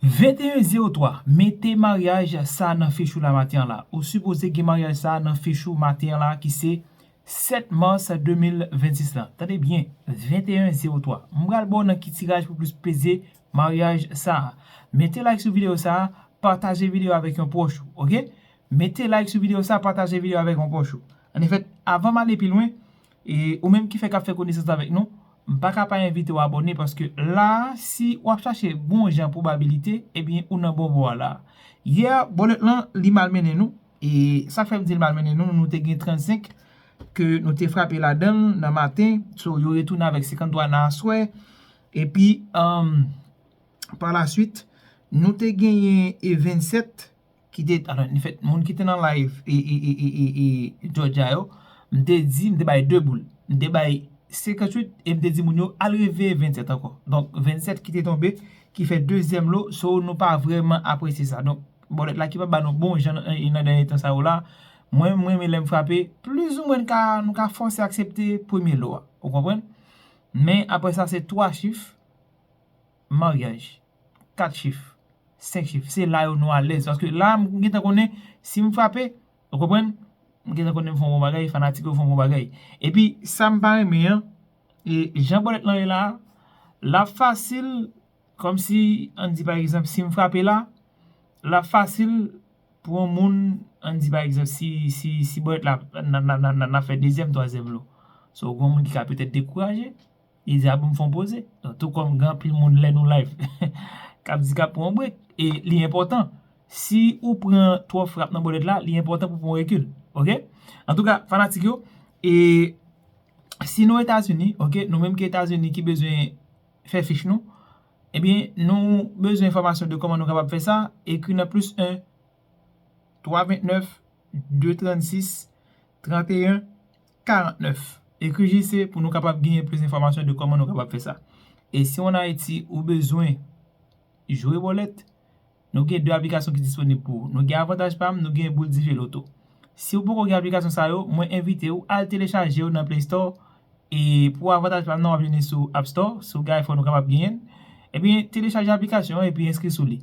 21 03 mete maryaj sa nan fich ou la maten an la ou sipoze gen maryaj sa nan fich ou maten an la ki se 7 mars 2026 la tande byen 21 03 m pral baw nan ki tiraj pou plis plezi maryaj sa mete like sou video sa pataje video avèk yon pwòch ou ok mete like sou video sa pataje video avèk yon pwòch ou ann efèt avan m ale pi lwen E ou menm ki fèk ap fè konesans avèk nou, m pa ka pa envite w abòne paske la a si w ap chache bon jan pwobabilite ebyen ou nan bon bò a la a. Yè a bòlèt lan li mal mennen nou e sa k fè m di l mal mennen nou nou te gen 35 ke nou te frape ladan l nan maten so yo retounen avèk 53 nan aswè epi pa la swit nou te genyen e 27 ki te alo ni fèt moun ki te nan live e jòja yo m te di m te bay 2 boul m te bay 58 e m te di moun yo al reveye 27 ankò donk 27 ki te tonbe ki fè dezyèm lo so nou pa vrèman apresye sa donk bòlèt la ki pa ba nou bon jan nan dènye tan sa yo la mwen m renmen lè m frape plis ou mwen nou ka fòse aksepte premye lo a ou konprann men aprè sa se 3 chif maryaj, 4 chif, 5 chif, se la yo nou alèz paske la m gentan konnen si m frape, ou konprann, m gentan konnen m fè yon bon bagay, fanatik yo fè yon bon bagay. Epi sa m pa renmen an, e jan bòlèt lan ye la a, l ap fasil kòm si an di pa egzanp si m frape la, l ap fasil pou yon moun an di pa egzanp si si si bòlèt la nan nan nan fè dezyèm twazyèm lo, so gen yon moun ki ka petèt dekouraje. Li di a pou m fè yon poze. Donk tou kòm gen anpil moun lè nou live k ap di k ap pran yon brek e li enpòtan si ou pran twòp frap nan bòlèt la li enpòtan pou w pran yon rekil ok. Antouka fanatik yo e si nou Etazini ok nou menm ki Etazini ki bezwen fè fich nou ebyen nou bezwen enfòmasyon de kòman nou kapab fè sa ekri nan plis 1 3 29 2 36 31 49, Ekri JC pou nou kapab genyen plis enfòmasyon de kòman nou kapab fè sa. E si w an Ayiti, ou bezwen jwe bòlèt, nou gen 2 aplikasyon ki disponib pou ou. Nou gen Avantaj Pa'm, nou gen Boul Dife Loto. Si ou poko gen aplikasyon sa yo, mwen envite ou al telechaje yo nan Play Store, e pou Avantaj Pa'm nan w'ap jwenn li sou App Store, si ou gen iPhone ou kapab genyen l. Ebyen, telechaje aplikasyon an epi enskri sou li.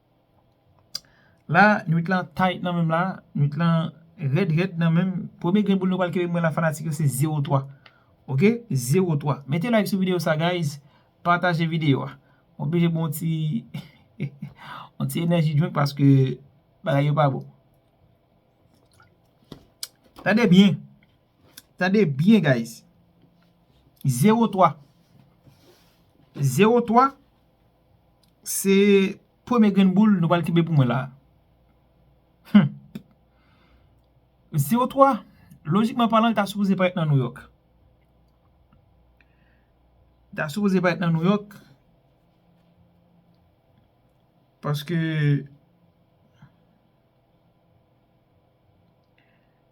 La nwit lan tight nan menm la, nwit lan rèd rèd nan menm, premye grenn boul nou pral kenbe mwen la fanatik yo se 0 3 ok 0 3, mete like sou video sa guys pataje video a, m oblije bou yon ti yon ti energy drink paske bagay yo pa bon tande byen tande byen guys 0 3 0 3. Se premye grenn boul nou pral kenbe pou mwen la. Humm. Zero twa, lojikman palan li ta sipoze parèt nan Nouyòk. Li ta sipoze parèt nan Nouyòk. Paske.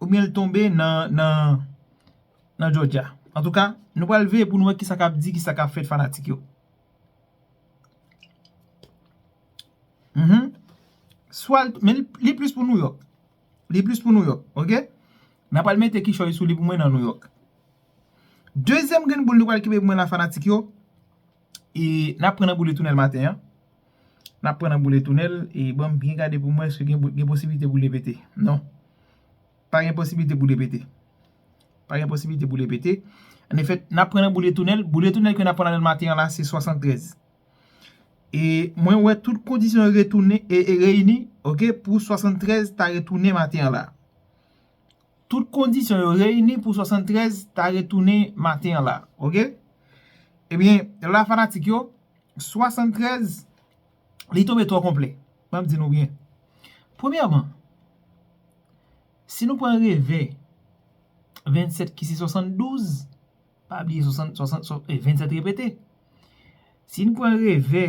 Oubyen l tonbe nan Georgia. Antouka, nou pral veye pou nou wè kisa k ap di, kisa k ap fèt fanatik yo. Men li plis pou Nouyòk. Li plis pou Nouyòk. Ok? Nan pral mete kichòy sou li pou mwen nan Nouyòk. Dezyèm grenn boul nou pral kenbe pou mwen la fanatik yo. E nap pran nan boule tounèl maten an. Nap pran nan boule tounèl e banm byen gade pou m wè eske gen posibilite boule pete. Non. Pa gen posibilite boule pete. Pa gen posibilite boule pete. An efè, nap pran nan boule tounèl. Boule tounèl ke nap pran nan nan maten an la se 73. E mwen wè tout kondisyon retounen e reyini, ok, pou 73 ta retounen maten an la. Tout kondisyon yo reyini pou 73 ta retounen maten an la ok ebyen la fanatik yo 73 li tonbe twò konplè map di nou byen premyèman si nou pran revè 27 ki se 72 pa bliye 27 repete si nou pran revè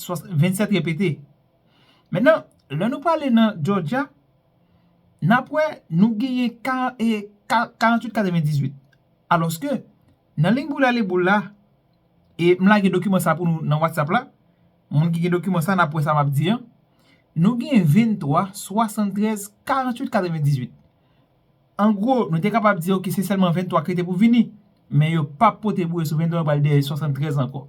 27 repete. Menan, lè nou prale nan Jòjya, n ap wè nou genyen 48 98. Alòske, nan lign boule ale boule la, e m lage dokiman sa pou nou nan Whatsapp la, moun ki gen dokiman sa n ap wè sa m ap di an, nou gen 23 73 48 98. An gwo, nou te kapab di oke se sèlman 23 ki rete pou vini, men yo p ap pote bouye sou 23 yo pral dèyè 73 ankò.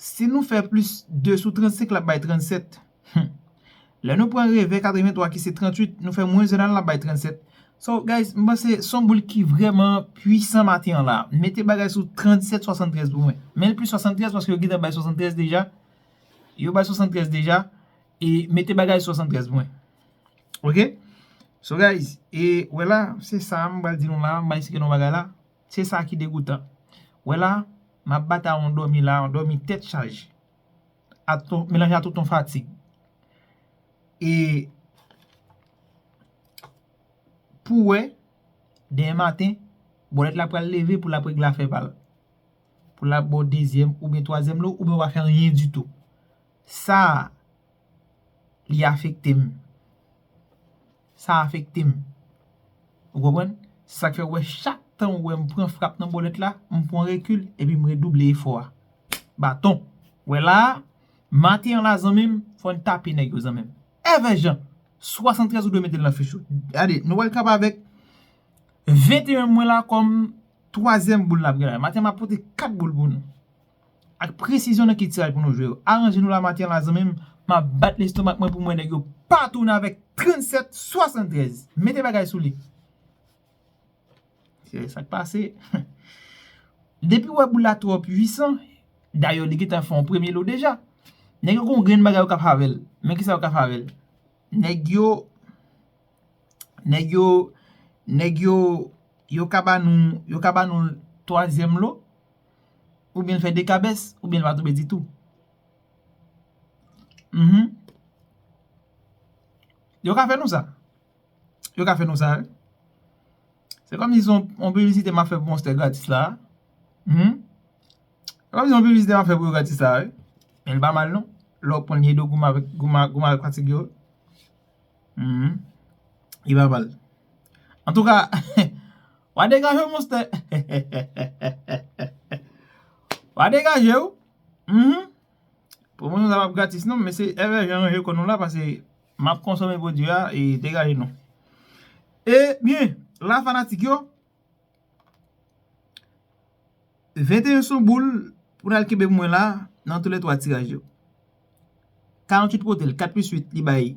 Si nou fè plis 2 sou 35 l ap bay 37. Humm. Lè nou pran revè 83 ki se 38, nou fè mwens 1 an l ap bay 37. So guys, m panse s on boul ki vrèman pwisan maten an la. Mete bagay sou 37, 73 pou mwen. Men l plis 73 paske yo gentan bay 73 deja. Yo bay 73 deja. E mete bagay sou 73 pou mwen. Ok? So guys, e wè la, se sa m pral di nou la. M bay si gen yon bagay la. Se sa ki degoutan. Wè la, m ap batay yon dòmi la, yon dòmi tèt chaje. Melanje a tout yon fatig. E pou wè, demen maten, bòlèt la pral leve pou l ap regle afè pa l. Pou l ap ba w dezyèm oubyen twazyèm lo, oubyen w pa fè anyen ditou. Sa, li afekte m. Sa afekte m. Ou konprann? Se sa k fè ou wè chak tan ou wè m pran frap nan bòlèt la, m pran rekil epi m redouble efò a. Baton! Wè la a, maten an la zanmi m, fò n tape nèg yo zanmi m. Evè Jan! 73 ou dwe mete l nan fich ou. Gade, nou wè l kanpe avèk 21 mwen la kòm twazyèm boul n ap gen la. Maten m ap pote kat boul pou nou. Ak presizyon nan ki tiraj pou nou jwe yo. Aranje nou la maten la zanmim. Map bat lestomak mwen poum wè nèg yo pa tounen avèk 37 73. Mete bagay sou li. Se sak pase. Depiw wè boul la twò pwisan, dayè li gentan fè yon premye lo deja. Nèg yo gon grenn bagay yo ka fè avèl. Men kisa yo ka fè avèl. Nèg yo Nèg yo Nèg yo Yo ka ba nou Yo ka ba nou twazyèm lo Ou byen l fè 2 kabès, ou byen l pa tonbe ditou. Mh. Yo ka fè nou sa. Yo ka fè nou sa. Se kòm si se yon piblisite m ap fè pou monstè gratis la a. Mh. Se kòm si se yon piblisite m ap fè pou yo gratis la a wi. Men l pa mal non. Lè w konn Nido goumen avèk, goumen avèk fatig yo. Mh. Li pa mal. Antouka. Wa degajew monstè Wa degajew Uhmm Pwomosyon sa pap gratis non Mesye Ever Jean ranje kò nou la pase Map konsome pwodwi a e degaje nou E byen la fanatik yo 21 son boul Pou nal kenbe pou mwen la Nan tou le 3 tiraj yo 48 potel 4 plus 8 li bay.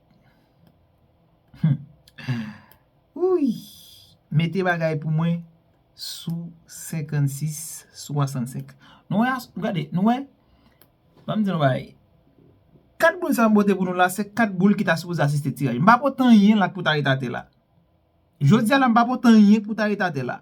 Wouyy mete bagay pou mwen sou 56 sou 65 nou wè nou gade nou wè banm di nou bagay 4 boul sa m pote pou nou la se 4 boul ki ta sipoze asiste tiraj m pa pote anyen la k pou ta ret atè la jodi a la m pa pote anyen k pou ta ret atè la.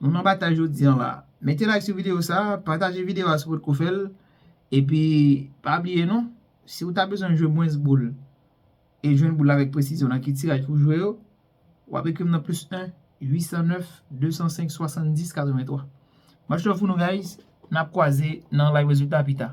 Moun nan batay jodi an la. Mete like sou video sa, pataje video a si w pot ko fè l, epi pa bliye non, si w ta bezwen jwe mwens boul e jwenn boul la avèk presizyon nan ki tiraj pou w jwe yo, w ap ekri m nan plis 1 809 205 70 83. Much love pou nou guys, n ap kwaze nan live rezilta pita.